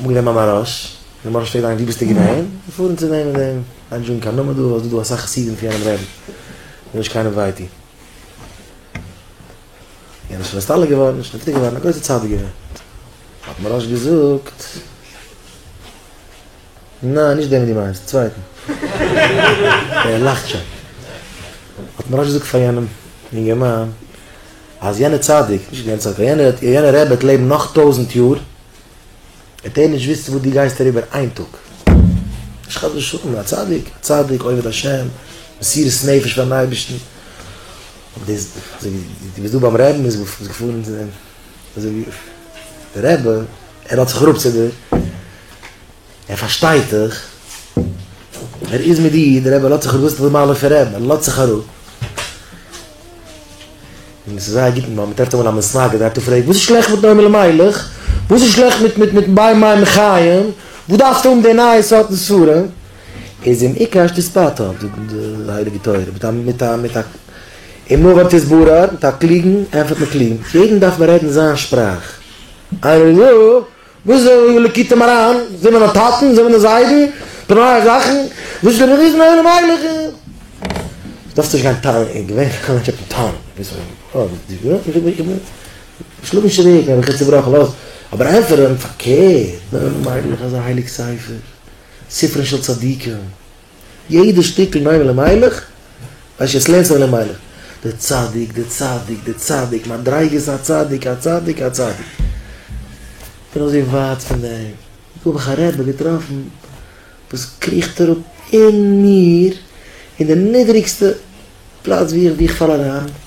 אנגענומען א מאראש, די מאראש פרעגט איינער ווי ביסטו געווען? מיר פארן צו דעם און דעם, ניין ג'געבן קיין נאמען דא ווייל ס'איז דא דא אסאך חסידים פון יענעם רעבין, וויל נישט קיינעם וויי טון. יענער איז שוין נסתלק געווארן, נישט נפטר געווארן, א גרויסער צדיק געווען. האט מאראש געזאגט, ניין נישט דעם דו מיינסט, א צווייטן. ער לאכט שוין. האט מאראש געזאגט פאר יענעם יונגערמאן, אז יענער צדיק, נישט יענער צדיק, א יענער רבי וועט לעבן נאך טויזענט יאר, וועט ער נישט וויסן וואס דו גייסט אריבער איין טאג. נישט חס ושלום, א צדיק, א צדיק, עובד השם, מסירות נפש פארן אייבערשטן. אבער דאס, אזוי ווי דו ביסט דא ביים רבי'ן, מ'איז געפארן צו דעם, אזוי ווי דער רבי, ער האט זיך אראפ צו דיר, ער פארשטייט דיך, ער איז מיט דיר, דער רבי לאזט זיך אראפ, דאס איז די מעלה פון רעדן, ער לאזט זיך אראפ, און עס איז זייער גוט ווען מען טרעפט אמאל א מסנגד, דער רבי פרעגט וואס איז שלעכט מיט נועם אלימלך, וואס איז שלעכט מיט מיט מיט בית מים חיים, וואס דארפסטו האבן די נייע סארטן ספרים, איז אים עיקר שתתפטר, זאגט די הייליגע תורה, מיט א מיט א מיט א עם נבר תסברה, מיט א קלוגן ענטפערט מען קלוג, מיט יעדן דארף מען רעדן זיין שפראך, איינער איז דא. וואס איז דער ליקוטי מרן? זענען מיר די טאטן? זענען מיר די זיידן? די נייע זאכן? וואס איז דער ריזן עולם מיילעך? דארפסט נישט גיין טענה'ן, איך געווען א מענטש אויפן טאון, שלאג נישט צוריק, האב איך צובראכן, לאז אבער ענטפערן פארקערט, דער עולם מיילעך איז א הייליג ספר, ספרן של צדיקים. יעדע שטיקל מיימר למיילך, ווייל ש ס לערנט זיך למיילך. דער צדיק, דער צדיק, דער צדיק, מדריגת הצדיק, הצדיק, הצדיק. כ'בין אזוי ווייט פון דעם. דא האב איך א רבי געטראפן וואס קריכט אראפ אין מיר, אין די נידריגסטע פלאץ ווי איך פאל אריין.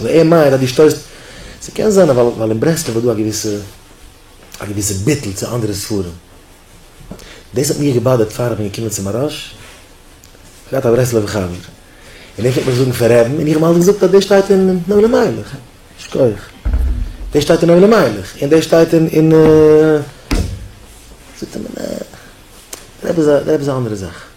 אבער ער מיינט אז דו שטויסט, ס'קען זיין ווייל אין ברסלב איז דא א געוויסע א געוויסע ביטול צו אנדערע ספרים, דאס האט מיר געבאדערט פאר איך בין געקומען צו מהרש ל, כ'האב געהאט א ברסלב'ע חבר און ער פלעגט מיך זאגן פון רעבן און איך האב אים אלץ געזאגט אז דאס שטייט אין נועם אלימלך, שכוח, דאס שטייט אין נועם אלימלך און דאס שטייט אין, זאגט ער מיר נעע, רעבן איז א רעבן איז א אנדערע זאך.